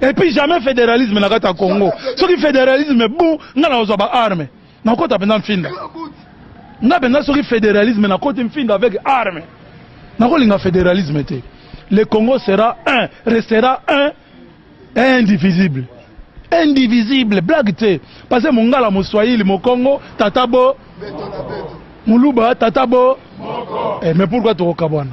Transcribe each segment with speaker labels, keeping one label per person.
Speaker 1: Et puis jamais fédéralisme na kata Congo. Ce qui fédéralisme bon, nga na ozo ba armes. Na kota penda mfinda. Nga penda ce qui fédéralisme na kota mfinda avec armes. Na ko linga fédéralisme te. Le Congo sera un, restera un indivisible. Indivisible, blague te. Parce que mongala moswahili mokongo tata bo muluba tata bo. Eh mais pourquoi tokokabwana?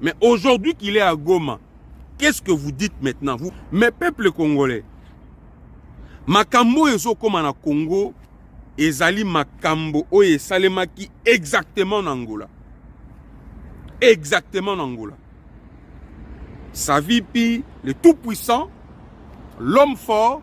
Speaker 2: Mais aujourd'hui qu'il est à Goma, qu'est-ce que vous dites maintenant vous Mais peuple congolais, makambo ezokoma na Congo ezali makambo oyo esalemaki exactement na Angola. Exactement na Angola. Savipi, le tout puissant, l'homme fort,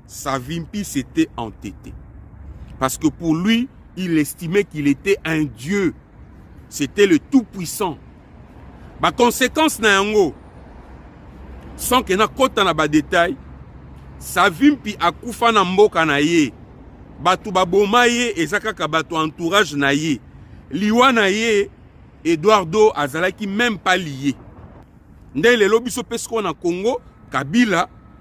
Speaker 2: Savimpi s'était entêté. Parce que pour lui, il estimait qu'il était un dieu. C'était le tout-puissant. Ma conséquence na yango sans que na kota na ba détail Savimpi akufa na mboka na ye. Batu baboma ye eza kaka batu entourage na ye. Liwa na ye Eduardo azalaki même pas lié. Nde lelo biso pesiko na Congo Kabila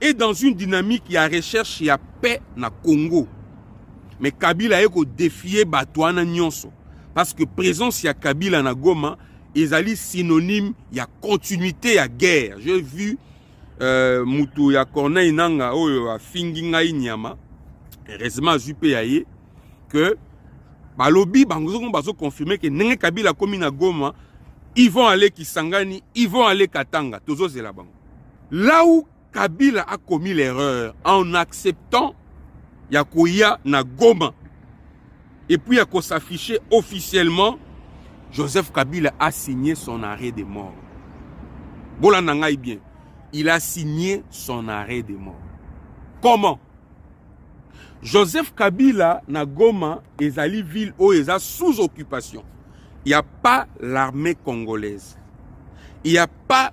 Speaker 2: et dans une dynamique ya recherche ya paix na Congo mais Kabila aye ko défier bato wana nyonso parce que présence ya Kabila na Goma ezali synonyme ya continuité ya guerre j'ai vu euh, mutu ya Corneille Nanga oyo afingi ngai nyama heureusement azwi mpe ya ye que balobi bango soko bazo confirme ke ndenge Kabila akomi na Goma ils vont aller Kisangani ils vont aller Katanga tozozela bango Là où Kabila a commis l'erreur en acceptant ya koya na Goma et puis ya ko s'afficher officiellement, Joseph Kabila a signé son arrêt de mort. Bolanda ngai bien. Il a signé son arrêt de mort. Comment? Joseph Kabila na Goma ezali ville oyo eza sous occupation. Il n'y a pas l'armée congolaise. Il n'y a pas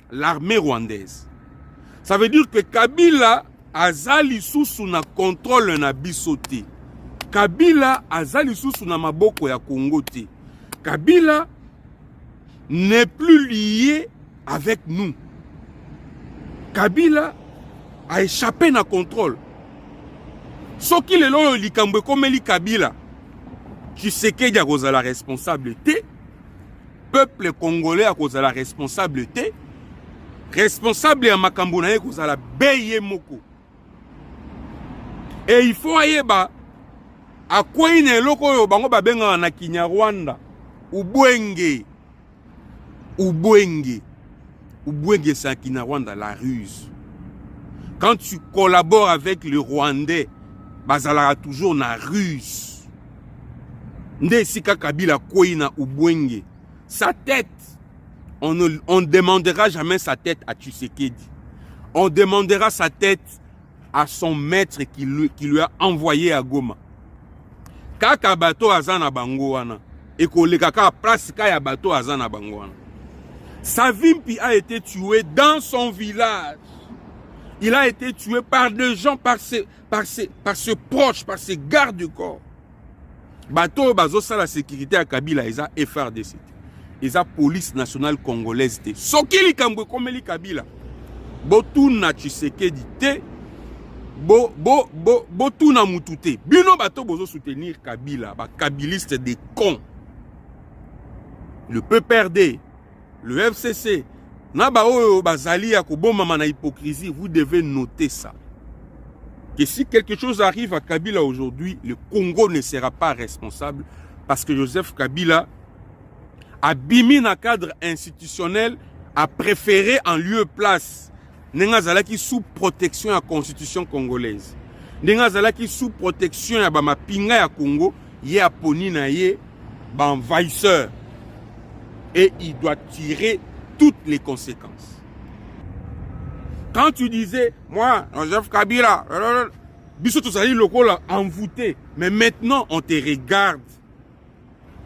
Speaker 2: l'armée rwandaise. Ça veut dire que Kabila aza lisusu na contrôle na biso te. Kabila aza lisusu na maboko ya Congo te. Kabila n'est plus lié avec nous. Kabila a échappé na contrôle. soki lelo oyo likambo ekomeli kabila tshisekedi akozala responsable te peuple congolais akozala responsable te responsable ya makambo na ye kozala be ye moko e il faut ayeba akwei na eloko oyo bango babengaka na kinyarwanda ubwenge ubwenge ubwenge sa kinyarwanda la ruse quand tu collabores avec le rwandais bazalaka toujours na ruse nde esika kabila akwei na ubwenge sa tête on ne on demandera jamais sa tête à tshisekedi on demandera sa tête à son maître qui lui, qui lui a envoyé à goma kaka bato aza na bango wana ekoleka kaka place ka ya bato aza na bango wana savimpi a été tué dans son village il a été tué par des gens par ses par ses, par ses proches, par ses gardes du corps. bato oyo bazosala sécurité ya kabila eza frdc te eza police nationale congolaise te soki likambo ekomeli kabila botuna tshisekedi te botuna bo, bo, bo mutu te bino bato bozosoutenir kabila bakabiliste de con le pprd Le FCC na baoyo bazali ya kobomama na hypocrisie vous devez noter ça que si quelque chose arrive à Kabila aujourd'hui le Congo ne sera pas responsable parce que Joseph Kabila abimi na cadre institutionnel a préféré en lieu place ndenge azalaki sous protection ya constitution congolaise ndenge azalaki sous protection ya bamapinga ya congo ye aponi na ye baenvahisseur et il doit tirer toutes les conséquences quand tu disais moi joseph kabila biso tozali lokola envoûté mais maintenant on te regarde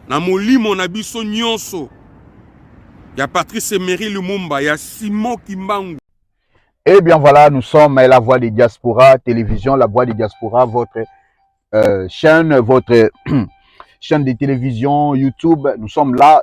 Speaker 2: na molimo na biso nyonso ya Patrice Emery Lumumba ya Simon Kimbangu. Eh bien
Speaker 3: voilà, nous sommes la voix des diaspora, télévision, la voix des diaspora, votre euh, chaîne, votre chaîne de télévision, YouTube. Nous sommes là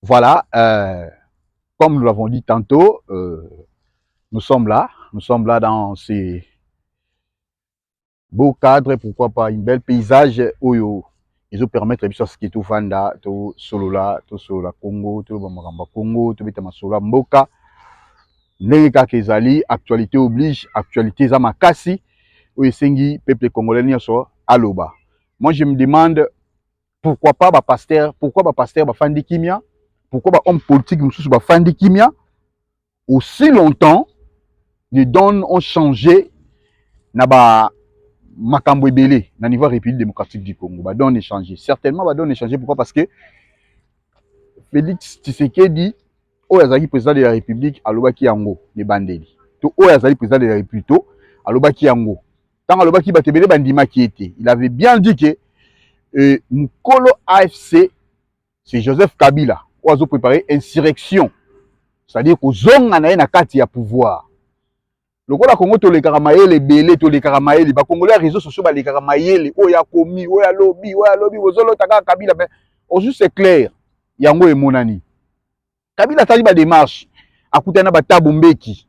Speaker 3: Voilà, euh, comme nous l'avons dit tantôt, euh, nous sommes là, nous sommes là dans ces beaux cadres, pourquoi pas une belle paysage oyo ezo permettre biso aski tofanda tosolola tosolola congo toloba makambo ya congo tobeta masolo ya mboka ndenge kaka ezali actualité oblige actualité eza makasi oyo esengi peuple congolais nyonso aloba moi je me demande pourquoi pas ba pasteur pourquoi ba pasteur bafandi kimia pourquoi ba homme politique mosusu bafandi kimia aussi longtemps les dons ont changé na ba makambo ebele na niveau ya république démocratique du congo ba dons échangé certainement ba dons échangé pourquoi parce que félix tshisekedi oyo azalaki président de la république alobaki yango na ebandeli to oyo azali président de la république to alobaki yango ntango alobaki bato ebele bandimaki ye te il avait bien dit que euh, mokolo afc c'est joseph kabila oyo azoprépare insurrection c'est-à-dire kozonga na ye na kati ya pouvoir lokola kongo tolekaka mayele ebele tolekaka mayele bakongole ya réseau sociaux balekaka mayele oyo akomi oyo alobi oyo alobi bozolota kaka kabila me ozu c'est clair yango emonani Kabila asali ba demarche, akutani na batabu mbeki,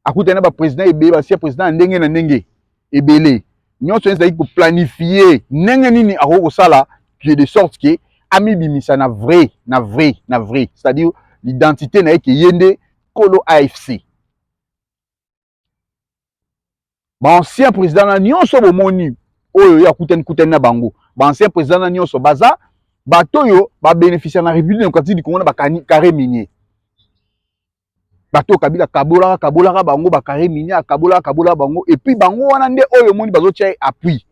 Speaker 3: akutani na ba president ebele, basia president ya ndenge na ndenge ebele, nyonso ezalaki ko planifier ndenge nini akoki kosala que de sorte que amibimisa na vrai na vrai na vrai, c'est-à-dire l'identité na ye ke ye nde kolo AFC. ba ancien président na nyonso bomoni oyo ye akutani kutani na bango ba ancien président na nyonso baza bato oyo babénéficia na république démocratique du congo na bacarré minier bato oyo kabila akabolaka akabolaka bango bacarré minier akabolaka akabolaka bango epuis bango wana nde oyo omoni bazotya ye appui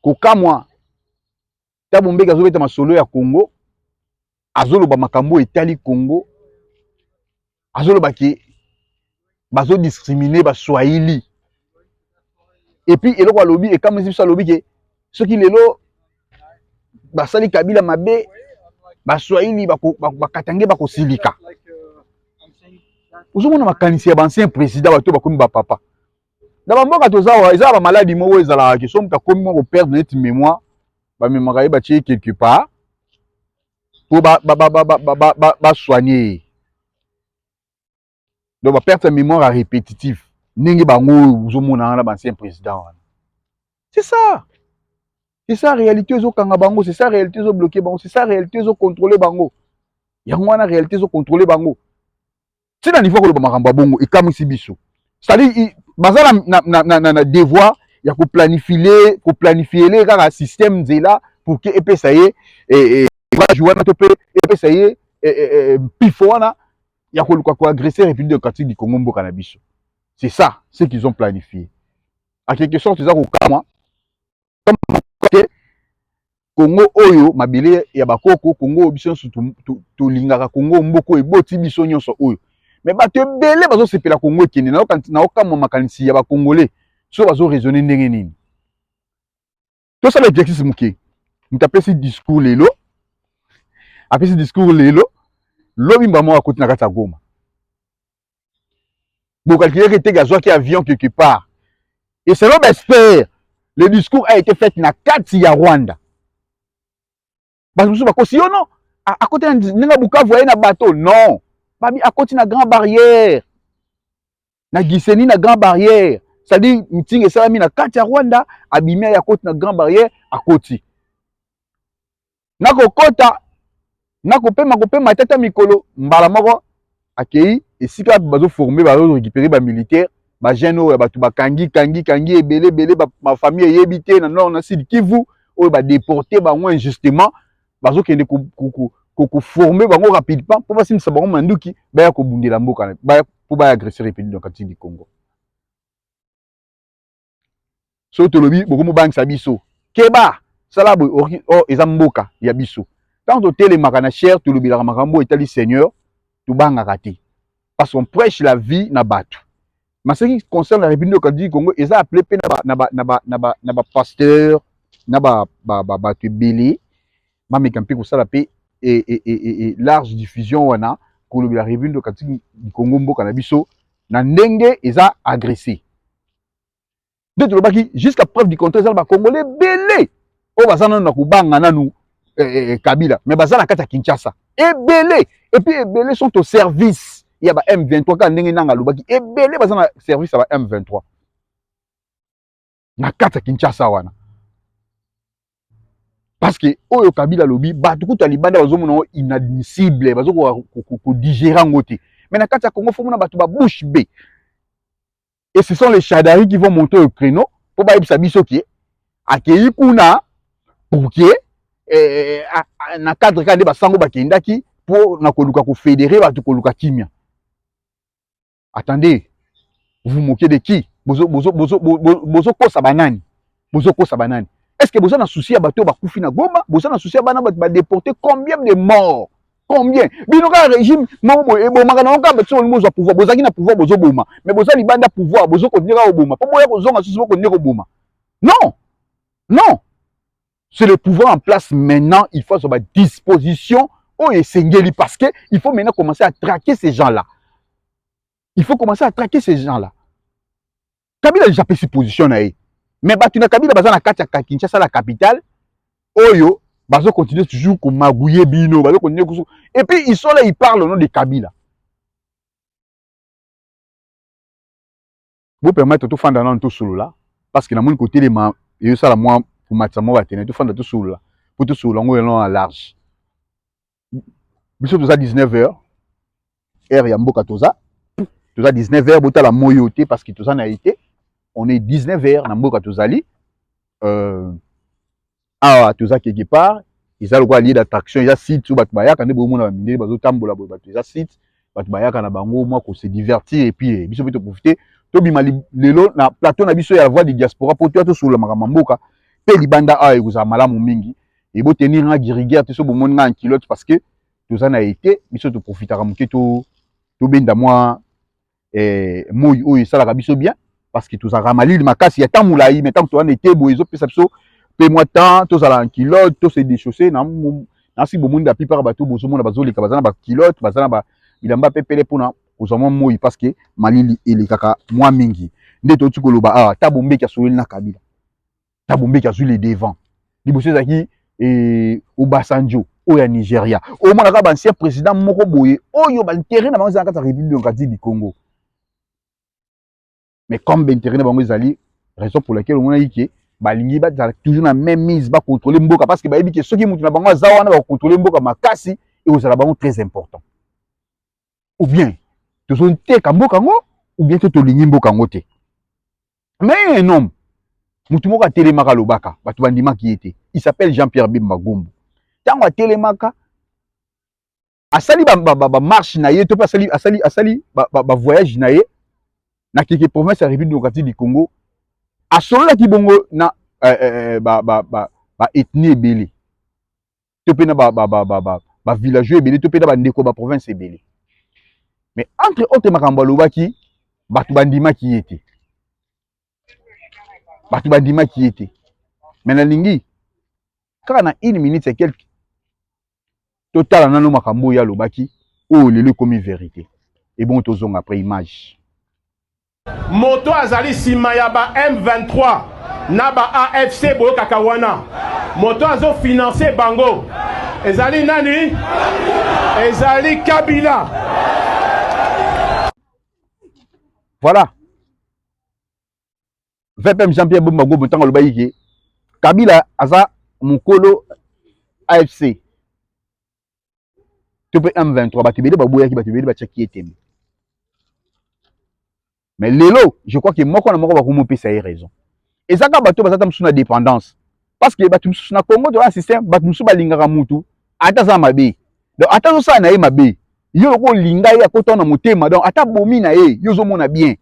Speaker 3: kokamwa Thabo Mbeki azobeta masolo ya Congo, azoloba makambo etali Congo, azoloba ke bazo discriminer ba Swahili. Et puis eloko alobi ekamwisi biso alobi ke soki lelo basali Kabila mabe, ba Swahili bakatange bakosilika. Ozomona makanisi ya ba ancien président bato bakomi ba papa. na bamboka toza awa eza ba maladi moko ezalaka ke so moto akomi moko perdre neti mémoire bamemaka ye batye ye quelque part mpo basoigne ye donc baperte ya mémoire ya répétitive ndenge bango oyo ozomona wana baancien président wana c'est ça c'est ça réalité ezokanga bango c'est ça réalité ezobloke bango c'est ça réalité ezocontrôle bango yango wana réalité ezocontrôle bango ti na niveau koloba makambo ya bongo ekamwisi biso cetadire baza na, na, na, na, na, na devoir ya koplanifile koplanifiele kaka système nzela pour ke epesa ye eh, eh, courage wana to mpe epesa ye eh, eh, eh, mpifo wana ya koluka koagresse république démocratique du congo mboka na biso c'est ça ce qu'ils ont planifié à quelque sorte eza kokamwa te Congo oyo mabele ya bakoko Congo oyo biso nyonso tolingaka Congo mboka oyo eboti biso nyonso oyo me bato ebele bazosepela Congo ekende naokamwa makanisi ya bakongole so bazoraisonne ndenge nini tosala exercice moke moto apesi discours lelo apesi discours lelo lobi mbamoko akoti na kati ya goma bokalkile ke teke azwaki avion quelque part et selon baexpert le discours a été fait na kati ya rwanda bato mosusu bakosi yo no akoti na ndenge bukavu aye na bato non babi akoti na grand barrière na giseni na grand barrière c'est-à-dire mitingi esalami na kati ya rwanda abimi aye akoti na grand barrière akoti na kokota na kopema kopema tata mikolo mbala moko akei esika bazoforme bazorekipere bamilitaire bajeune oyo ya bato bakangi kangi kangi ebele ebele bafamille eyebi te na nord na sud kivu oyo badeporte bango injustement bazokende koforme bango rapidement mpo basimbisa bango manduki baya kobundela mboka mpo baya agresseur epedi na kati du congo soki tolobi bokomi bobangisa biso keba sala boye okoki o oh, eza mboka ya biso ntango totelemaka na chere tolobelaka makambo oyo etali seigneur tobangaka te parce qu'on prêche la vie na bato mais ce qui concerne la république démocratique du congo eza appelé mpe na bapasteur na bato ebele bameka mpe kosala mpe e, e, e, large diffusion wana kolobela république démocratique du congo mboka na biso na ndenge eza agressé nde tolobaki jusqu'à preuve du contraire eza na bacongolais ebele oyo baza nanu na kobanga nanu eh, eh, eh, kabila mais baza na kati ya kinshasa ebele epuis ebele sont au service ya ba m23 kaka ndenge nanga alobaki ebele baza na service ya ba m23 na kati ya kinshasa wana parce que oyo kabila alobi bato kutu ya libanda bazomona yango inadmissible bazokoka kodigere yango te mais na kati ya congo fomona bato babouche be et ce sont les chadari qui vont monter au créneau mpo bayebisa biso ke akei kuna pour ke eh, na cadre kaka nde basango bakendaki mpo na koluka kofedere bato koluka kimia attendez vous moquez de qui bozo bozo bozo bozo kosa banani bozo kosa banani est ce que boza na souci ya bato oyo bakufi na goma boza na souci ya bana bato badeporte combien de morts combien bino kaka régime moko boye ebomaka nango kaka bato bolingi bozwa pouvoir bozalaki na pouvoir bozoboma mais boza libanda pouvoir bozokontinue kaka koboma mpo boya kozonga susu bokontinue koboma non non c'est le pouvoir en place maintenant il faut azwa badisposition oyo esengeli parce que il faut maintenant commencer à traquer ces gens là il faut commencer à traquer ces gens là kabila deja apesi position na ye mais bato na kabila baza na kati ya kinshasa la capitale oyo bazo continuer toujours komagouye bino bazo continuer kusu et puis ils sont là ils parlent au nom de kabila Bo permettre tofanda nanu tosolola parce que namoni kotelema ezosala mwa komatisa mwa batene tofanda tosolola mpo tosolola yango elona na large biso toza 19 heures heure ya mboka toza toza 19 heures botala moi oyo te parce que toza na ye te on est 19 heures na mboka tozali euh, awa toza quelque part eza lokola lieu d'attraction eza site oyo bato bayaka nde bomona bamindele bazotambola boye bato eza site bato bayaka na bango mwa kose divertir epuis eh, biso mpe toprofite tobima lelo na plateau na biso ya la voix du diaspora mpo toya tosolola makambo ya mboka mpe libanda awa ekozala malamu mingi ebo tenir nga giriguer te so bomoni nga ankilote parce que toza na ete biso toprofitaka moke tobenda mwa eh, moi oyo esalaka biso bien parce que tozalaka malili makasi ya temps molai mais ntango towana ete boye ezopesa biso mpe mwa temps tozala en culotte to se déchausser na nasi bomoni la plupart bato bozomona bazoleka baza na baculotte baza na bilamba mpe pele mpona kozwa mwa moi parce que malili elekaka mwa mingi nde touti koloba awa ah, ata bombeki asololi na kabila Thabo Mbeki azwi le devant liboso ezalaki eh, Obasanjo oyo ya Nigeria omonaka ba ancien président moko boye oyo ba intérêt na bango eza na kati ya République démocratique du Congo mais comme ba intérêt na bango ezali raison pour laquelle omonaki ke balingi bazala toujours na même mise ba contrôler mboka parce que bayebi ke soki mutu na bango aza wana ba contrôler mboka makasi ekozala bango très important ou bien tozoteka mboka yango ou bien te tolingi mboka yango te mais un homme motu moko atelemaka alobaka bato bandimaki ye te il s'appelle jean pierre bemba gombo ntango atelemaka asali bamarche na ye to mpe asali, asali, asali bavoyage na ye na keke province ya république démocratique du congo asololaki bongo na eh, eh, eh, baethnie ebele to mpe na ba, ba, ba, ba, ba, ba villageois ebele to mpe na bandeko ba province ebele mais entre autres makambo alobaki bato bandimaki ye te bato bandimaki ye te me nalingi kaka na une minute ya quelque totala nano makambo oyo alobaki oyo lelo ekomi verité ebongo tozonga après image
Speaker 4: Moto azali sima ya ba M23 na ba AFC boyokaka wana. Moto azo financer bango. Ezali nani? Ezali Kabila.
Speaker 3: Voilà. VPM Jean-Pierre Bemba Gobo ntango alobaki ke Kabila aza mokolo AFC to mpe M23 bato ebele baboyaki bato ebele batiaki ye tembe mais lelo je crois ke moko na moko bakomi opesa ye raison eza kaka bato baza ta mosusu na dépendance parce que bato mosusu na congo toza na système bato mosusu balingaka motu ata aza mabe donc ata azosala na ye mabe yo lokola olinga ye akota na motema donc ata bomi na ye yo ozomona bien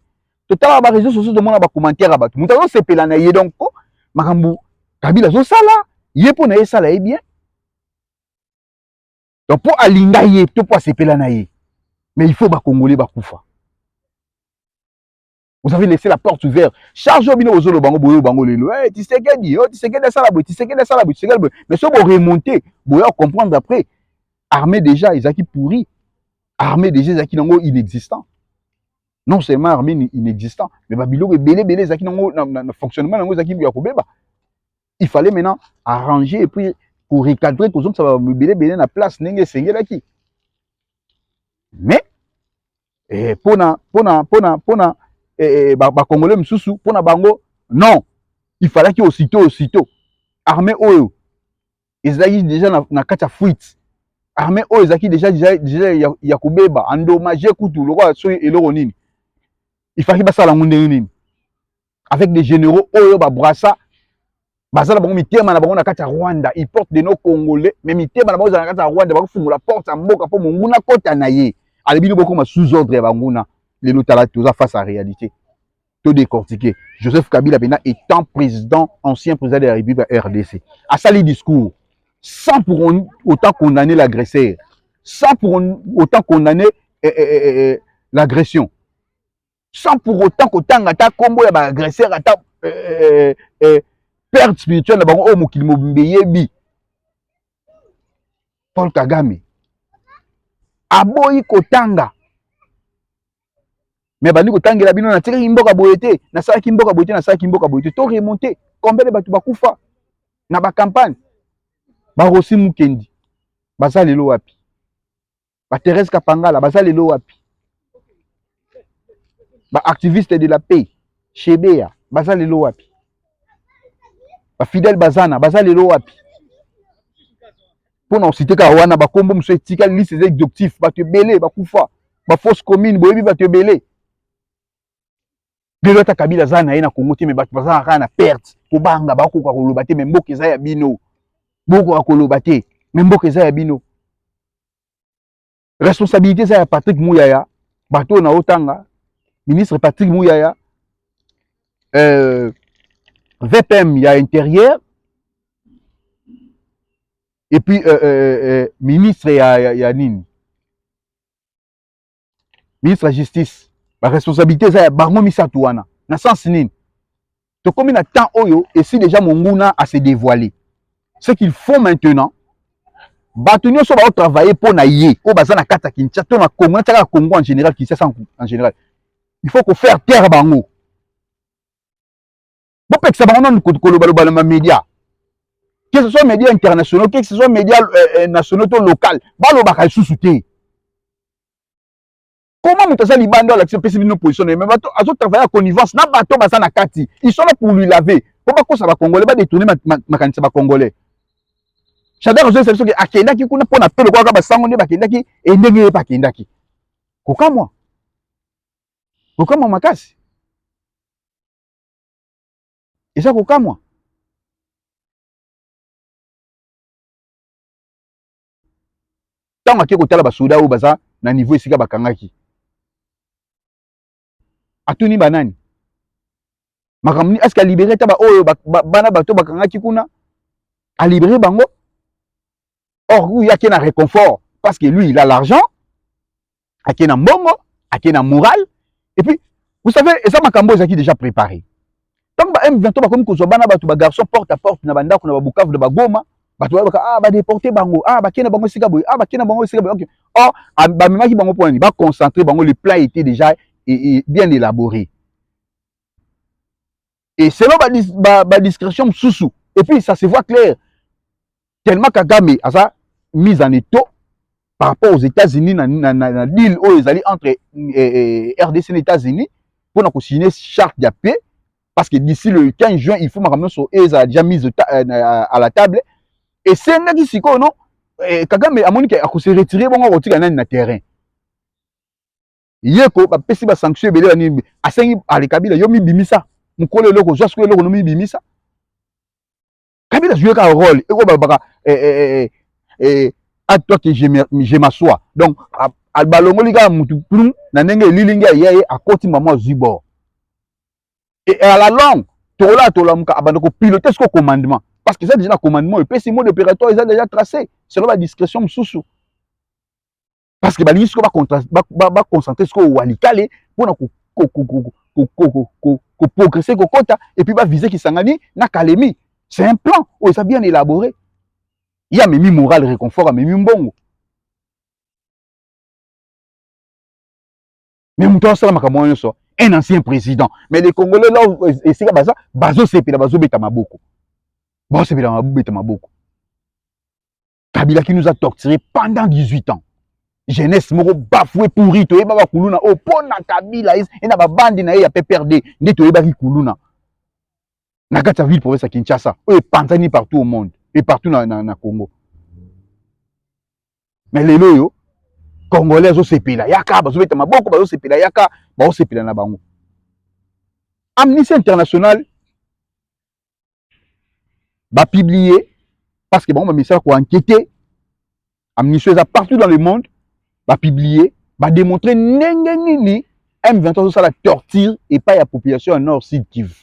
Speaker 3: totala ba réseaux sociaux tomona ba commentaire ya bato moto azosepela na ye donc makambo kabila azosala ye mpo na ye esala ye bien donc mpo alinga ye to mpo asepela na ye mais il faut bakongole bakufa vous avez laissé la porte ouverte charge oyo bino bozoloba yango boyo bango lelo hey, eh, tisekedi oh, tisekedi asala boye tisekedi asala boye tisekedi boye mais so boremonte boya comprendre après armée déjà ezalaki pourri armée déjà ezalaki nango inexistant non seulement armée inexistant mais babiloko ebele ebele ezalaki nango na fonctionnement nango ezalaki ya kobeba il fallait maintenant arranger et puis ko recadrer ko zongisa ba mibele bele na place ndenge esengelaki mais eh, pona pona pona pona eh, eh ba, ba congolais misusu pona bango non il fallaki aussitôt aussitôt armée oyo ezalaki déjà na, na kati ya fuite armée oyo ezalaki déjà déjà, déjà ya, ya kobeba endommage kutu lokola soki eloko nini il fallaki basala yango ndenge nini avec des généraux oyo ba brassa baza na bango mitema na bango na kati ya rwanda il porte de nos congolais mais mitema na bango ezala na kati ya rwanda bakofungola porte ya mboka mpo monguna kota na ye ale bino bokoma sous ordre ya banguna lelo tala toza face à réalité to décortiquer joseph kabila mpena étant président ancien président de la république ya rdc asali discours sans pour on, autant condamner l'agresseur sans pour on, autant condamner eh, eh, eh, eh, eh l'agression sans pour autant kotanga ata nkombo ya baagresseur ata euh, euh, euh, perte spirituelle na bango oyo mokili mobimba eyebi paul kagame aboyi kotanga me abandi kotangela bino natikaki mboka boye te nasalaki mboka boye te nasalaki mboka boye te to remonte combien de bato bakufa na bacampagne barosi mukendi baza lelo wapi ba Therese Kapangala baza lelo wapi ba activiste de la paix Shebea baza lelo wapi ba Fidel Bazana baza lelo wapi mpona osite kaka wana bakombo mosusu etikali liste eza exhaustif bato ebele bakufa bafosse commune boyebi bato ebele lelo ata kabila aza na ye na congo te me bato bazalaka kaka na perte kobanga bakokoka koloba te me mboka eza ya bino bokoka koloba te me mboka eza ya bino responsabilité eza ya patrick muyaya bato oyo naotanga ministre patrick muyaya euh, vpm ya intérieur et puis euh, euh, euh, ministre ya, ya, ya nini ministre ya justice baresponsabilité eza ya bango misato wana na sens nini tokomi na temps oyo esi deja monguna ase dévoile ce qu'il faut maintenant bato nyonso baotravaille mpo na ye oyo baza na kati ya kinshasa to na congo natia kaka congo en général kinshasa en général il faut kofaire taire bango bopekisa bango nanu kolobaloba na bamedia que ce soit media internationaux que ce soit media euh, euh, nationaux to local balobaka lisusu te koma moto aza libanda alakisi opesi bino position na ye mais bato azotravaille ya connivence na bato baza na kati ils sont là pour lui laver mpo bakosa bacongolais badetourne makanisi ya bacongolais shadar azoyesa biso ke akendaki kuna mpo na mpe lokolaka basango nde bakendaki endenge ye bakendaki kokamwa kokamwa makasi eza kokamwa ntango ake kotala basoda oyo baza na niveau esika bakangaki atuni banani makambo nini aske alibere ata baoyo bana bato bakangaki kuna alibere bango or huyu ake na reconfort parce que lui il a l'argent ake na mbongo ake na moral et puis vous savez eza makambo ezalaki déjà préparé ntango ba m23 bakomi kozwa bana bato bagarçon porte à porte na bandako na babukavu na bagoma bato bayebaka ah badeporte bango ah bakei na bango esika boye ah bakei na bango esika boye okay. or ah, bamemaki bango mpo nani baconcentre bango le plan était déjà e, e, bien élaboré et selon ba, ba, ba discrétion mosusu et puis ça se voit clair tellement kagame aza mise en étau par rapport aux états-unis na, na, na, na deal oyo ezali entre eh, eh, rdc na états-unis mpo na kosigne charte ya paix parce que d'ici le 15 juin il faut makambo nyonso ezala déjà mise euh, à la table esengaki sikoyo no eh, kagame amoni ke akose retire bongo akotika nani na terrain yeko bapesi ba sanction ebele ba nini asengi ale kabila yo mibimisa mokolo eloko ozwa sikoyo eloko nomibimisa kabila joue kaka role ekoyo balobaka eh, eh, eh, eh, eh, a toi que je m'assois donc balongoli kaka mutu plum na ndenge elilingi ya ye akoti mama azwi bord et à la longue tokola tolamuka abanda kopilote siko commandement parce que eza déjà na commandement epesi mode opératoire eza déjà tracé selon badiscrétion mosusu parce que balingi sikoyo baconcentre sikoyo walikale mpona koprogresse kokota epuis bavise kisangani na kalemi c'est un plan oyo eza bien élabore ye amemi moral réconfort amemi mbongo mais moto asala makambo wana nyonso un ancien président mais les congolais là esika baza bazosepela bazobeta maboko bazosepela babeta maboko kabila qui nous a torturé pendant 18 ans jeunesse moko bafoue pourri toyeba bakuluna oyo oh, mpo na kabila e na babandi na ye ya pprd nde toyebaki kuluna na kati ya ville province ya kinshasa oyo epanzani partout au monde et partout na, na, na congo me lelo oyo congolais azosepela yaka bazobeta maboko bazosepela yaka baosepela na bango amnistie internationale ba publier parce que bango ba misala ko enquêter amnistie eza partout dans le monde ba publier ba démontrer ndenge nini M23 azosala torture epai ya population ya nord sud Kivu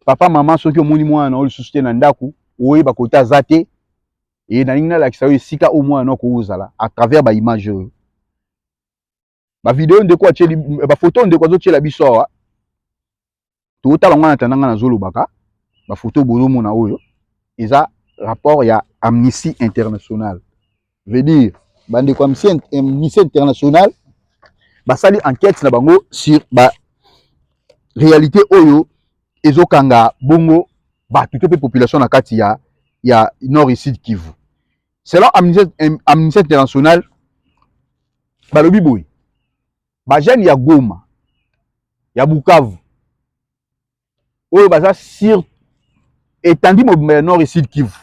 Speaker 3: papa mama soki omoni mwana na yo lisusu te na ndako oyeba kota aza te e nalingi nalakisa yo esika oyo mwana na yo akoki kozala à travers baimage oyo ba video ndeko atieli ba photo ndeko azotiela biso awa totala ngo na tanda nga nazolobaka ba photo bozomona oyo eza rapport ya amnistie internationale veut dire bandeko ya amnistie internationale basali enquête na bango sur ba réalité oyo ezokanga bongo bato to mpe population na kati ya ya nord et sud kivu selon amnistie internationale balobi boye bajeune ya goma ya bukavu oyo baza sur etandi mobimba ya nord et sud kivu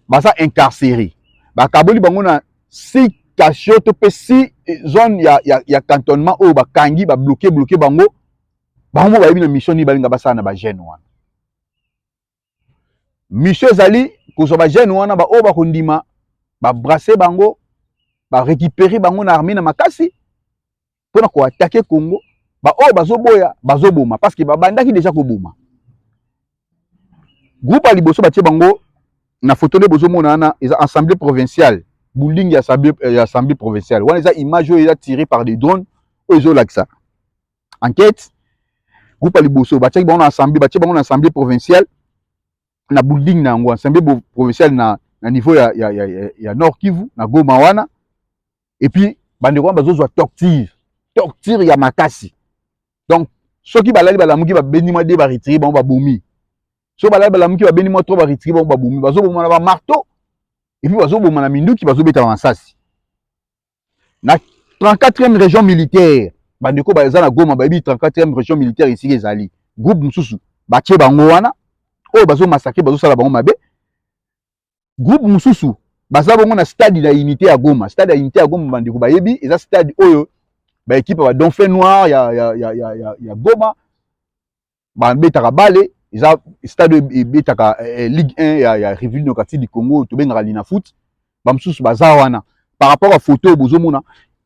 Speaker 3: baza incarcere bakaboli bango na si kasio to mpe si zone ya, ya, ya cantonnement oyo bakangi babloke bloke bango bango bayebi na mission nini balinga basala na bajeune wana mission ezali kozwa ba jeune wana baoyo bakondima babrasse bango barécupere bango na armée na makasi mpo na koatake congo baoyo bazoboya bazoboma parce que babandaki deja koboma groupe ya liboso batie bango na foto nde bozomona wana eza assemblée provinciale building ya assemblée provinciale wana eza image oyo eza tiré par des drones oyo ezolakisa enquête groupe ya liboso batiaki bango na assemblée batie bango na assemblée provinciale na building na yango assemblée provinciale na, na niveau ya, ya, ya, ya, ya nord kivu na goma wana epuis bandeko wana bazozwa torture torture ya makasi donc soki balali balamuki babendi mwa de baretire bango babomi soki balali balamuki babendi mwa tro baretire bango babomi bazoboma na bamarteau epuis bazoboma na minduki bazobeta bamasasi na 34e région militaire bandeko baza na goma bayebi 34e région militaire esika ezali groupe mosusu batie bango wana oyo bazomasakre bazosala bango mabe groupe mosusu baza bongo na stade na unité ya goma stade ya unité ya goma bandeko bayebi eza stade oyo baekipe ya badonfin noir ya, ya, ya, ya, ya, ya goma babetaka bale eza stade oyo ebetaka eh, eh, ligue 1 ya, ya république démocratique du congo tobengaka lina foot bamosusu baza wana par rapport ya photo oyo bozomona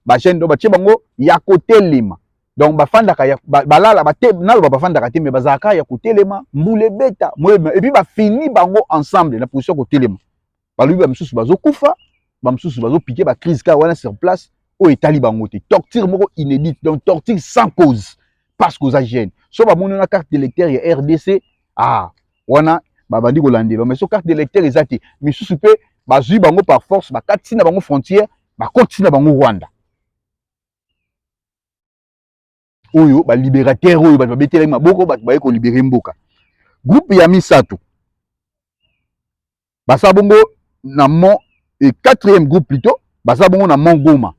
Speaker 3: bachaine donc batie bango ya kotelema donc bafandaka ya- ba- balala bate- naloba bafandaka te me bazalaka ya kotelema mbula ebeta moyebima epuis bafini bango ensemble na position ya kotelema balobi ba misusu bazokufa ba misusu bazopike ba crise kaka wana sur place oyo etali bango te torture moko inédite donc torture sans cause parce que oza jeune so bamoni wana carte d'électeur ya rdc ah wana babandi kolandela mais so carte d'électeur eza te misusu mpe bazwi bango par force bakati na bango frontière bakoti na bango rwanda oyo ba liberateur oyo bato babetelaki maboko bato baye kolibere mboka groupe ya misato basala bongo na mont e quatrième groupe plutôt basala bongo na mont goma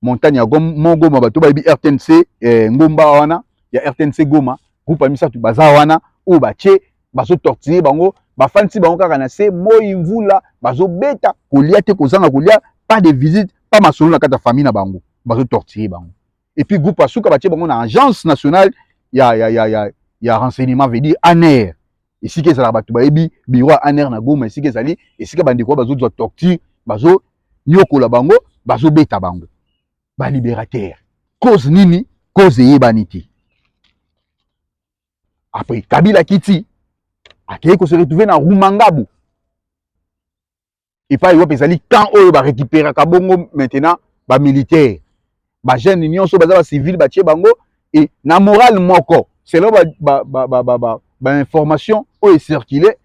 Speaker 3: montagne ya mont goma bato bayebi rtnc eh, ngomba wana ya rtnc goma groupe ya misato baza wana oyo batie bazotortire bango bafandisi bango kaka na se moi mvula bazobeta kolia te kozanga kolia pas de visite pas masolo na kati ya famille na bango bazotortire bango et puis groupe ya suka batie bango na agence nationale ya, ya, ya, ya, ya renseignement veut dire aner esika ezalaka bato bayebi biro ya aner na goma esika ezali esika bandeko bazozwa torture bazonyokola bango bazobeta bango baliberatere cause nini cause eyebani te après kabila kiti akei kose retrouve na rumangabu epai wapi ezali camp oyo ba récupéraka bongo maintenant ba militaire ba jeune nyonso baza ba civil batie bango et na morale moko selon ba ba ba ba ba, ba, ba information oyo ecircule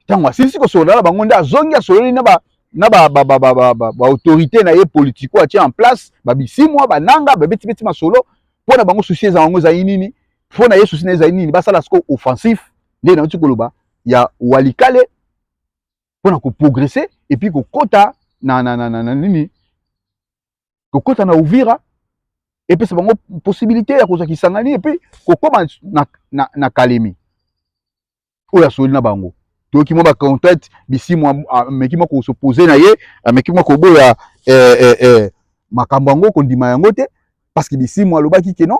Speaker 3: ntango asilisi kosolola na bango nde azongi asololi na ba na ba ba ba ba ba ba, ba autorité na ye politico atie en place ba bisimwa bananga babeti beti masolo mpo na bango susi ezala yango ezali nini mpo na ye susi na ezali nini basala siko offensif nde nauti koloba ya walikale mpo na koprogrese epuis kokota na, na, na, na, na nini kokota na uvira epesa bango possibilité ya kozwa kisangani epuis kokoma na, na, na kalemi oyo asoli na bango toyoki mwa bacontact bisimu ameki mwa kosopose na ye ameki mwa koboya eh, eh, eh, makambo yango kondima yango te parce que bisimu alobaki ke non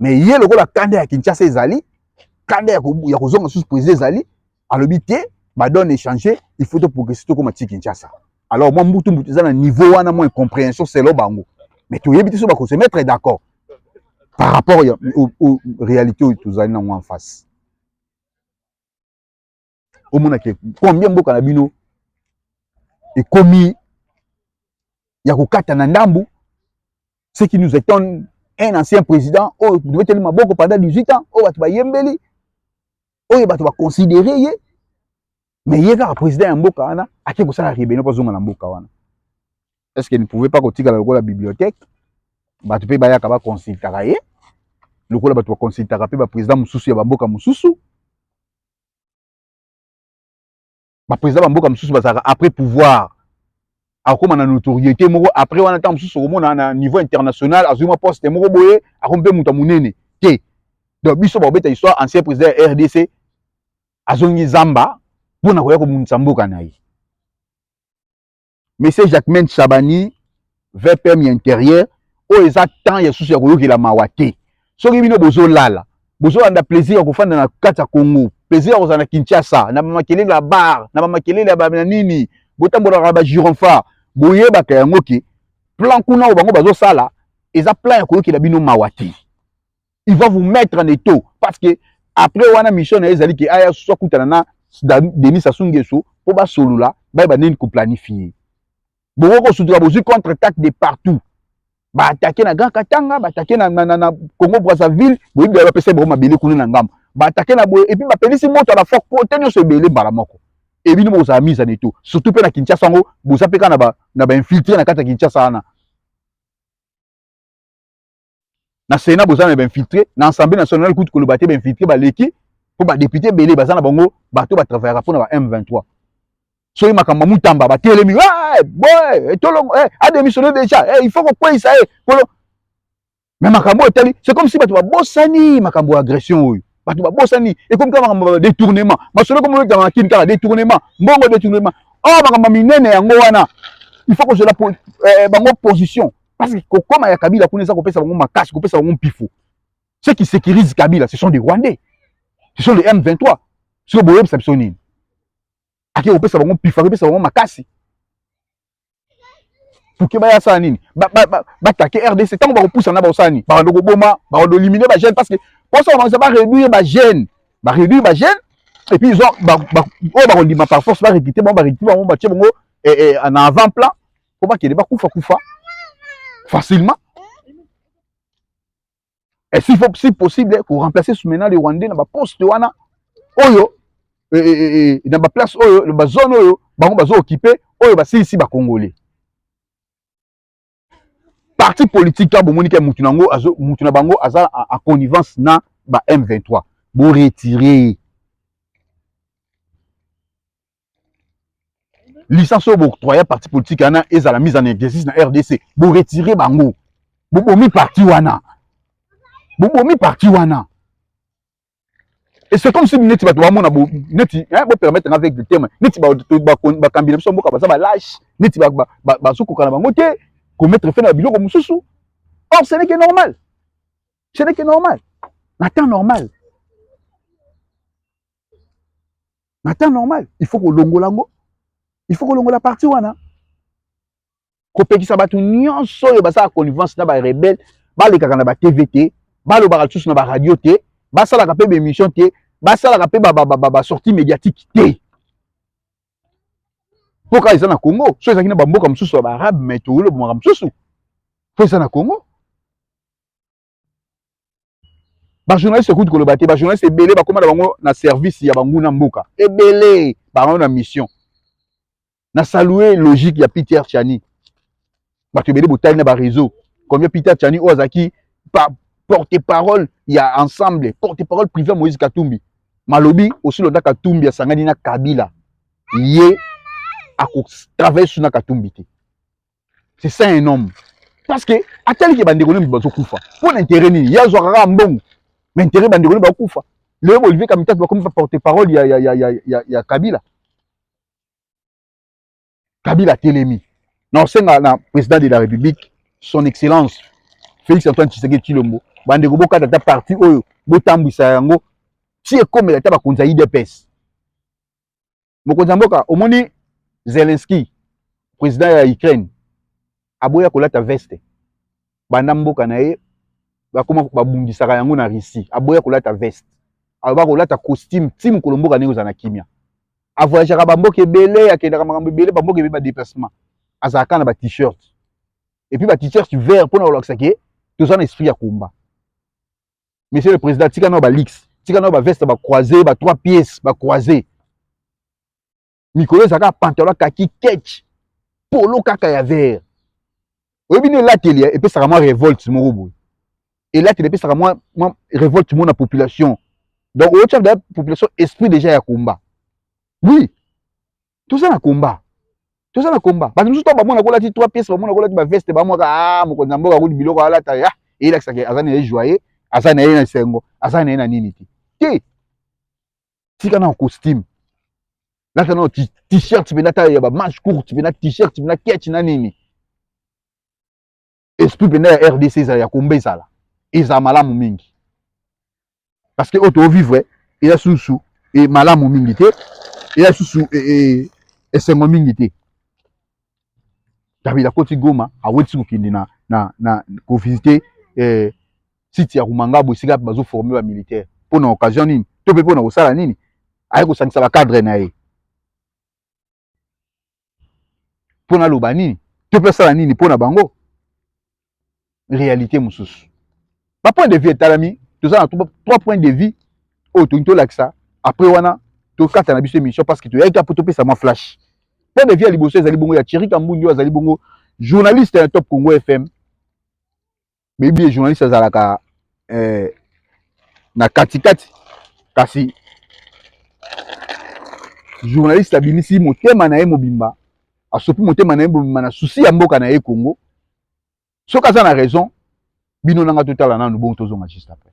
Speaker 3: mais ye lokola kanda ya kinshasa ezali kanda ya kozonga susu président ezali alobi te badone échange il faut toprogresse tokoma ti kinshasa alors mwa mbutu mbutu eza na niveau wana mwa incomprehension selo bango mais toyebi te so bako se mettre d'accord par rapport ya réalité oyo tozali nango en face omona ke combien mboka na bino ekomi ya kokata na ndambu ce qui nous étonne un ancien président oyo tobeteli maboko pendant 18 ans oyo bato bayembeli oyo bato baconsidere ye mais ye kaka président ya mboka wana ake kosala rebellion mpo azonga na mboka wana est ce que ne pouvait pas kotikala lokola bibliothèque bato mpe bayaka baconsultaka ye lokola bato baconsultaka mpe baprésident mosusu ya bamboka mosusu ba président ba mboka mosusu bazalaka après pouvoir akoma na notoriété moko après wana ntango mosusu okomona na niveau international azwi mwa poste moko boye akomi mpe moto ya monene te donc biso bakobeta histoire ancien président ya rdc azongi zamba mpo na koya kobundisa mboka na ye monsieur jacquemain chabani vpm ya interieur oyo eza temps ya susu ya koyokela mawa te soki bino bozolala bozolanda plaisir ya kofanda na kati ya congo plaisir ya kozala na kinshasa na bamakelele ya bar na bamakelele ya bana nini botambolaka na bagironfa boyebaka yango ke plan kuna oyo bango bazosala eza plan ya koyokela bino mawa te il va vous mettre en étau parce que après wana mission na ye ezali ke aya susu akutana na denis sassou nguesso mpo basolola bayeba nini koplanifie bokoki kosutuka bozwi contre attaque de partout baatake na grand katanga baatake na, na, na, na congo brazzaville boyebi baye bapesa bango mabele kuna na ngambo baatake na boye epuis bapelisi moto ya bafok po te nyonso ebele mbala moko ebino bokozala mise en eto surtout mpe na kinshasa yango boza mpe kaka na bainfiltre na kati ya kinshasa wana na Sénat boza na ba infiltré na Assemblée nationale kutu koloba te ba infiltré baleki mpo ba député belé baza na bango bato ba travaillaka mpo na ba M23 soki makambo mutamba batelemi hey, boy tolongo hey, a démissionné déjà hey, il faut kokweyisa ye kolo mais makambo etali c'est comme si bato babosani makambo ya agression oyo bato babosani ekomi kaka makambo ya détournement masolo ekomi olekama na kini kaka détournement mbongo détournement oyo oh, makambo minene yango wana il faut kozela eh, bango position Parce que kokoma ya Kabila kuna eza kopesa bango makasi, kopesa bango mpifo. Ceux qui sécurisent Kabila, ce sont des Rwandais. Ce sont les M23. Sio boyebisa biso nini? Ake kopesa bango mpifo, kopesa bango makasi. Puke baya sala nini? Ba ba ba, ba take RDC tango ba kopusa na ba osani, ba ndo koboma, ba ndo éliminer ba jeunes parce que pour ça on va réduire ba jeunes, ba réduire ba jeunes et puis ils ont ba ba oh ba kondima par force ba recruter ba ba recruter ba ba tchebongo et, et en avant plan po bakende bakufa kufa facilement et s'il faut si possible ko remplacer Soumena le Rwandais na ba poste wana oyo eh, eh, eh, na ba place oyo na ba zone oyo bango bazo occuper oyo basilisi ba congolais parti politique to bomoni ke mutu nango azo mutu na bango aza en connivence na ba M23 bo retirer licence oyo booctroya parti politique wana ezala mise en exercice na rdc boretire bango bobomi parti wana bobomi parti wana et c'est comme si neti bato bamona neti bopermettre nga avec de teme neti bakambi na biso mboka baza balâche neti bazokoka na bango te komettre fe na biloko mosusu or ce n'est que normal ce n'est que normal na temps normal na temps normal il faut kolongola yango il faut kolongola parti wana kopekisa bato nyonso oyo basala connivence na barebele balekaka na batv te balobaka lisusu na baradio te basalaka mpe baémission te basalaka mpe basortie médiatique te mpo kaka eza na congo so ezalaki na bamboka mosusu ya baarabe mai toyolobomaka mosusu mpo eza na congo bajournaliste okuti koloba te bajournaliste ebele bakóma na bango na service ya banguna mboka ebele bango na mission na salue logique ya peter chani bato ebele botali na bareseau combien peter chani oyo azalaki porte parole ya ensemble porte parole privé ya moïse katumbi malobi osilonda katumbi asangani na kabila ye akotravaille suna katumbi te c'est ça un homme parce que ataliki bandeko nini bazokufa mpo na intere nini ye azwaka kaka mbongo ma intere bandeko nini bakufa lelo olivier kamitatu bakomi ba porte parole ya, ya, ya, ya, ya, ya kabila kabila atelemi na osenga na président de la république son excellence félix antoine tshisekedi tshilombo bandeko bokata ata parti oyo botambwisa yango ti ekomela ata bakonzi ya idps mokonzi ya mboka omoni Zelensky president ya Ukraine aboya kolata veste banda mboka na ye bakoma babundisaka yango na Russie aboya kolata veste aloba kolata costume ti mokolo mboka ndenge ozala na kimia avoyageaka bamboka ebele akendaka makambo ebele bamboka ebele badeplacement azalaka na ba t-shirt epuis ba t-shirt vert mpona kolakisa ke toza na esprit ya combat monsieur le président tika nao balix tika nao baveste bacroise ba trois pièces bacroise mikolo ezalaka pantalon kaki ketch polo kaka ya vert oyebi nde elateli epesaka mwa revolte moko boye elateli epesaka mwa mwa revolte moko na population donc oyotyaka population esprit déjà ya combat oui toza na combat toza na combat bato mosusu to bamona kolati trois pièces bamona kolati baveste bamwaka a ah, mokonzi ya mboka akoli biloko alata ya eyelakisaka aza na ye joye aza na ye na esengo aza na ye na nini te te tika na costume lata na t-shirt mpe lata ya bamanche courte mpe na t-shirt mpe na ketch na nini esprit mpenza ya rdc ezala ya komba ezala ezala malamu mingi parce que oyo tovivre eza susu e malamu mingi te eza susu e, e, esengo mingi te kabila akoti goma awetisi kokende na, na, na kovisite eh, site ya rumangabo esika bazoforme bamilitaire mpo na occasion nini to mpe mpo na kosala nini aye kosangisa bacadre na ye mpo naloba nini to mpe asala nini mpo na bango réalité mosusu ba point de vue etalami toza na trois point de vue oyo tolingi tolakisa après wana tokata na biso émission parce que toyaki kaka mpo topesa mwa flash point de vue ya liboso ezali bongo ya thierry kambundi oyo azali bongo journaliste ya top congo fm boyebi ye journaliste azalaka eh, na katikati kasi journaliste abimisi motema na ye mobimba asopi motema na ye mobimba na susi ya mboka na ye congo soki aza na raison bino nanga totala nanu bongo tozonga juste après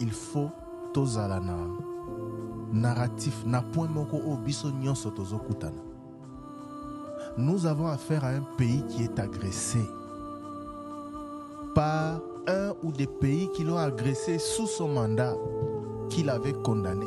Speaker 5: Il faut tozala na narratif na point moko oyo biso nyonso tozokutana nous avons affaire à un pays qui est agressé par un ou des pays qui l'ont agressé sous son mandat qu'il avait condamné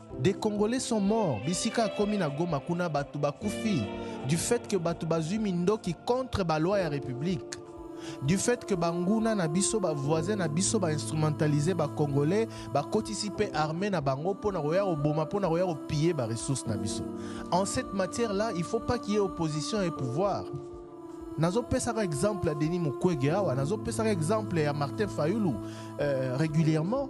Speaker 5: Des congolais sont morts bisika akomi na Goma kuna batu bakufi du fait que batu bazui mindoki contre ba loi ya republique du fait que banguna na biso ba voisin na biso ba instrumentalise ba congolais bakotisi mpe armée na bango mpo na koya koboma mpo na koya kopille ba ressources na biso en cette matière là il faut pas qu'il y ait opposition et pouvoir nazopesaka exemple ya denis mukwege awa nazopesaka exemple ya martin fayulu euh, régulièrement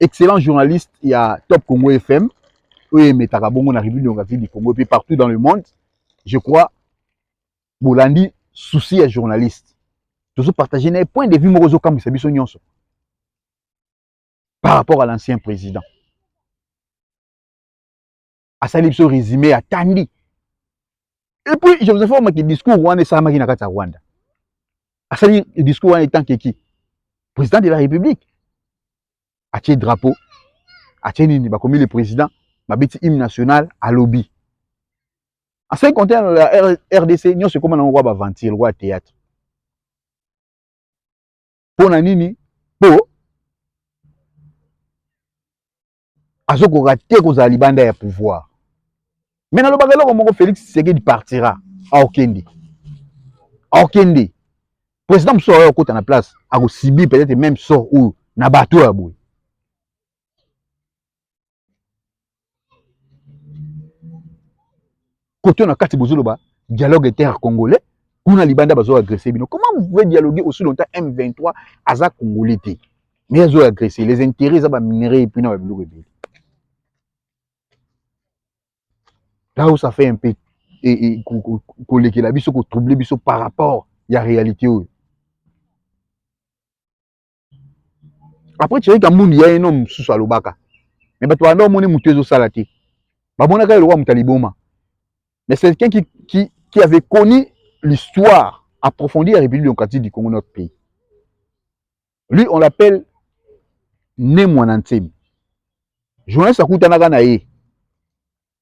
Speaker 3: excellent journaliste ya Top Congo FM oyo emetaka bongo na République démocratique du Congo mpe partout dans le monde je crois bolandi souci ya journaliste tozo partage na ye point de vue moko ozokamwisa biso nyonso par rapport à l'ancien président asali biso resume atandi et puis je vous informe que discours wana esalamaki na kati ya rwanda asali discours wana etant keki président de la république atie drapeau atie nini bakomi le président babeti hymne national alobi en ce qui concerne la rdc nyonso ekoma nango kwa baventure kwa théâtre mpo na nini mpo azokoka te kozala libanda ya pouvoir me nalobaka eloko moko félix tshisekedi partira aokende aokende président mosusu aoya kokota na place akosibir peut-être même sort oyo na bato ya boye koto na kati bozoloba dialogue inter congolais kuna libanda bazo agresser bino comment vous pouvez dialoguer aussi longtemps M23 aza congolais te mais azo agresser les intérêts za ba minerais et puis na ba biloko ebele là où ça fait un peu kolekela biso kotroubler biso par rapport ya réalité oyo Après Thierry Kambundu ya eno mosusu alobaka. Mais bato banda omoni moto ezosala te. Bamonaka ye lokola moto ya liboma. Mais c'est quelqu'un qui, qui, qui avait connu l'histoire approfondie ya République démocratique du Congo, notre pays. Lui, on l'appelle Ne Mwana Nsemi. Journaliste akutanaka na ye.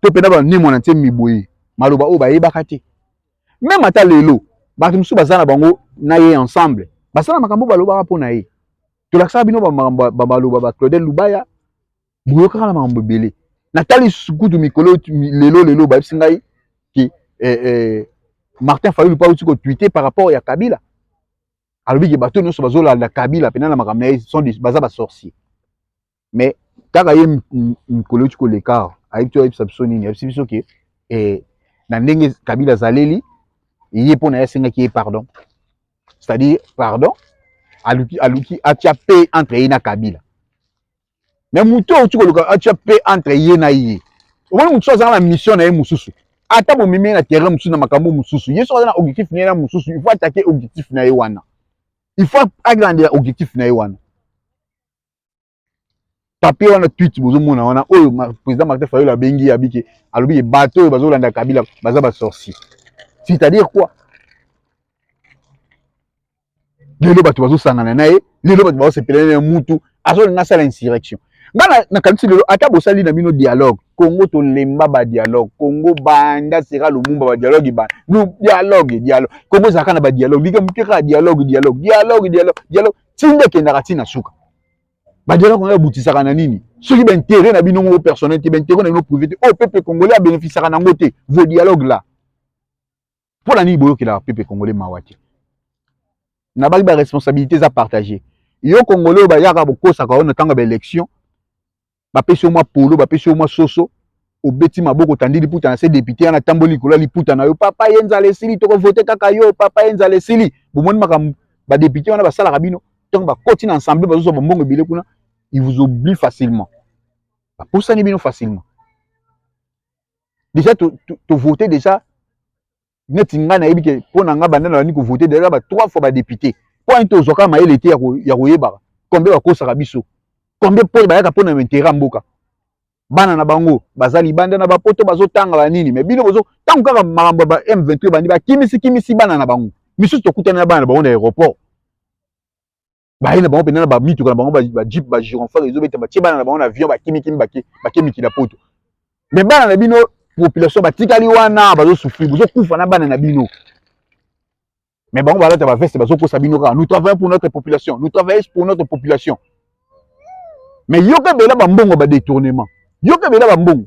Speaker 3: to mpe na banemo na nse miboye maloba oyo bayebaka te meme ata lelo bato mosusu baza na bango na ye ensemble basala makambo balobaka mpo na ye tolakisaka bino bamaloba ba claudel lubaya boyokaka na makambo ebele natali lisusu kutu mikolo lelo lelo bayebisi ngai ke eh, eh, martin fayulu mpo auti kotwite par rapport ya kabila alobi ke bato nyonso bazolanda kabila mpena na makambo na ye baza basorcier mais kaka ye mikolo euti koleka awa ayebi ti ayebisa biso nini ayebisi biso ke eh, na ndenge kabila azaleli ye mpo na ye asengaki ye pardon c'est-à-dire pardon aluki aluki atia pe entre ye na kabila mais moto oyo tikoluka atia pe entre ye na ye omoni mosusu azala na mission na ye mosusu ata bomemi ye na terrain mosusu na makambo mosusu ye soki aza na objectif na ye na mosusu il faut atake objectif na ye wana il faut alandela objectif na ye wana papier wana tweet bozomona wana oyo président martin fayolo abengi ye abike alobi ye bato oyo bazolanda kabila baza basorcier c'est-à-dire quoi lelo bato bazosangana na ye lelo bato bazosepela na ye mutu azolinga asala insurrection ngai nakanisi lelo ata bosali na bino dialogue congo tolemba badialogue congo banda sera lumumba badialogue ba dialogue dialogue congo ezalaka na badialogue likambo te kaka dialogue dialogue dialogue dialogue dialogue tinda ekendaka ntina suka badialaka wana babutisaka na nini soki baintere na bino moko personnel te baintere na bino privé te oyo oh, pepe congolais abénéficiaka nango te vos dialogue là mpo na nini boyokelaka pepe congolais mawa te nabaki baresponsabilité eza partage yo congolais oyo bayaka bokosaka oyo na ntango ya baélection bapesi yo mwa polo bapesi yo mwa soso obeti maboko otandi liputa na se depute wana atamboli likolo ya liputa na yo papa ye nzala esili tokovote kaka yo papa ye nzala esili bomoni makambo badepute wana basalaka bino ntango bakoti na ensemble bazozwa bambongo ebele kuna il vous oublie facilement bapusani bino facilement déjà tovote to, to déjà neti nga nayebi ke mpo na nga banda nalandi kovote deja ba trois fois badepute mpo ani tozwaka mayele te ya koyebaka combien bakosaka biso combien mpo bayaka mpo na interet ya mboka bana na bango baza libanda na bapoto bazotanga banini me bino bozo ntango kaka makambo ya ba m23 ebandi bakimisi kimisi bana na bango misusu tokutani na bana na bango na aéroport baye na bango mpenza na bamituka na bango bajeep bagironfar ezobeta batie bana na bango na avion bakimikimi bake mikili ya poto me bana na bino population batikali wana bazosufri bozokufa na bana na bino me bango balata baveste bazokosa bino kaka nous travaillons pour notre population nous travaillons pour notre population me yoka bela bambongo badetournement yoka bela bambongo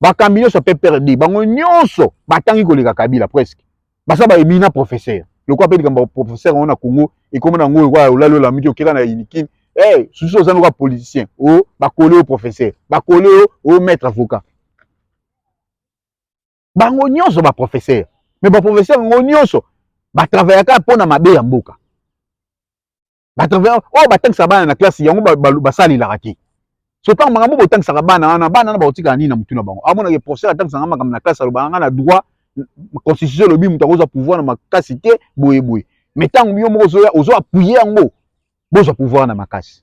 Speaker 3: bakambi nyonso ya pprd bango nyonso batangi koleka kabila presque baza ba emina professeur lokola mpe likambo ya professeur yango na congo ekoma na yango lokola olali olamiki okeka na unikin hey, susu oza lokola politicien o oh, bakole yo professeur bakole yo o oh, maître avocat bango nyonso baprofesseur me baprofesseur yango nyonso batravayaka mpo na mabe ya mboka bato oyo oh, batangisa bana na classe yango basalelaka te sopa makambo botangisaka bana wana bana wana bakotikala nini na motu na bango amonake professeur atangisaka makambo na classe alobaka nga na droit constitution elobi moto akozwa pouvoir na makasi te boye boye mais ntango yo moko ozoya ozo appuye yango bozwa pouvoir na makasi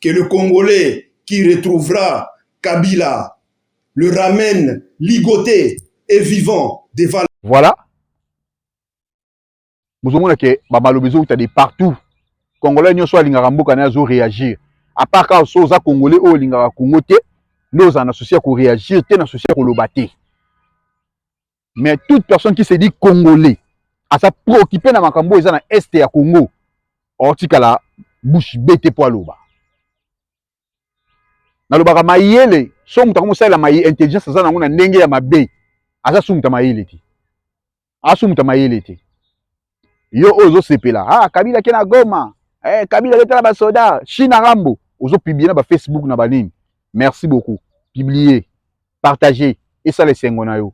Speaker 6: que le Congolais qui retrouvera Kabila le ramène ligoté et vivant devant Voilà.
Speaker 3: Bozomona ke ba malobi ezouta de partout. Congolais nyonso alingaka mboka na azo réagir. À part ka so oza Congolais oyo olingaka Congo te, nde ozala na souci ya ko réagir te na souci ya koloba te. mais toute personne qui se dit congolais aza préoccupé na makambo eza na est ya congo otikala bouche bete mpo aloba nalobaka mayele so moto akomosalela maye intelligence aza nango na ndenge ya mabe aza sumuta mayele te asumuta mayele te yo oyo ozosepela ah, kabila ke na goma eh, kabila letala basoda china rambo ozopiblie na bafacebook na banini merci beaucoup piblie partage esala esengo na yo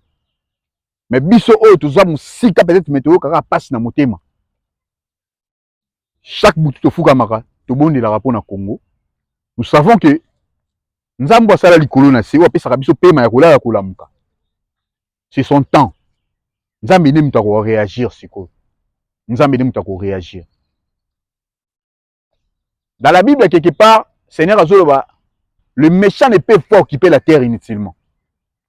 Speaker 3: me biso oyo toza mosika peut-être me toyokaka mpasi na motema chaque butu tofukamaka tobondelaka mpo na congo nous savons que nzambe asala likolo na se oyo apesaka biso mpema ya kolala kolamuka c'est son temps nzambe nde moto akoreagir sikoyo nzambe nde moto akoreagir dans la bible quelque part seigneur azoloba le méchant ne peut pas occuper la terre inutilement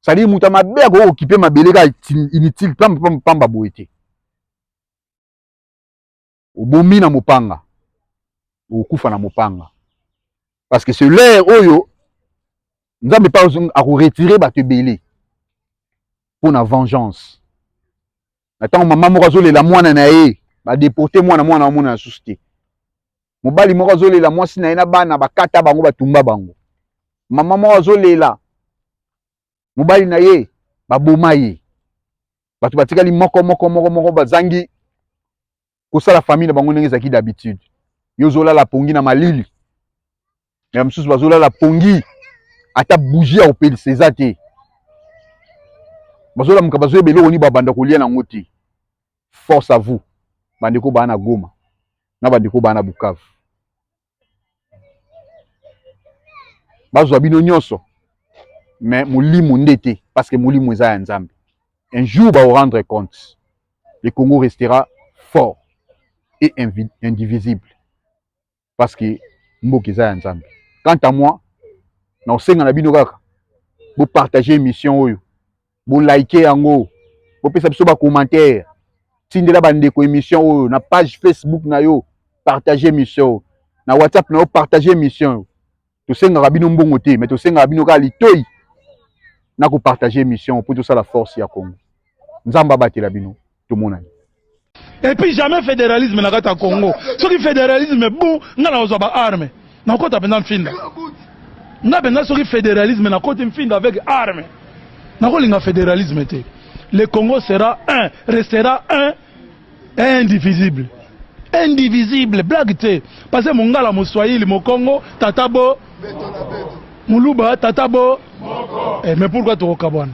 Speaker 3: c'est-à-dire moto ya mabe akoki okipe mabele kaka inutile pamba boye te obomi na mopanga okokufa na mopanga parce que ce lere oyo nzambe mpe akoretire bato ebele mpo na vengeance na ntango mama moko azolela mwana na ye badeporte mwana mwana amona na susu te mobali moko azolela mwasi na ye na bana bakata bango batumba bango mama moko azolela mobali na ye baboma ye bato batikali moko moko moko moko bazangi kosala famille na bango ndenge ezalaki d'habitude yo ozolala pongi na malili me mosusu bazolala pongi ata bougie ya kopelisa eza te bazolamuka bazoyeba eloko nini babanda kolia nango te force à vous bandeko baa na goma na bandeko baa na bukavu bazwa bino nyonso mais molimo nde te parce que molimo eza ya nzambe un jour bao rendre compte le congo restera fort et indivisible parce que mboka eza ya nzambe quant à moi na osenga na bino kaka bopartage émission oyo bo like yango bopesa biso bacommentaire tindela bandeko émission oyo na page facebook na yo partage émission oyo na whatsapp na yo partage émission oyo tosengaka bino mbongo te mais tosengaka bino kaka litoi na kopartage émission mpo tosala force ya congo nzambe abatela bino tomona ye et puis
Speaker 1: jamais fédéralisme na kati ya Congo soki fédéralisme bon nga na ozwa ba armes na kota penda mfinda nga penda soki fédéralisme na koti mfinda avec armes na kolinga fédéralisme te le Congo sera un restera un indivisible indivisible blague te parce que mongala moswahili mokongo tata bo muluba tata bo
Speaker 7: eh, mais
Speaker 1: pourquoi
Speaker 7: tokokabwana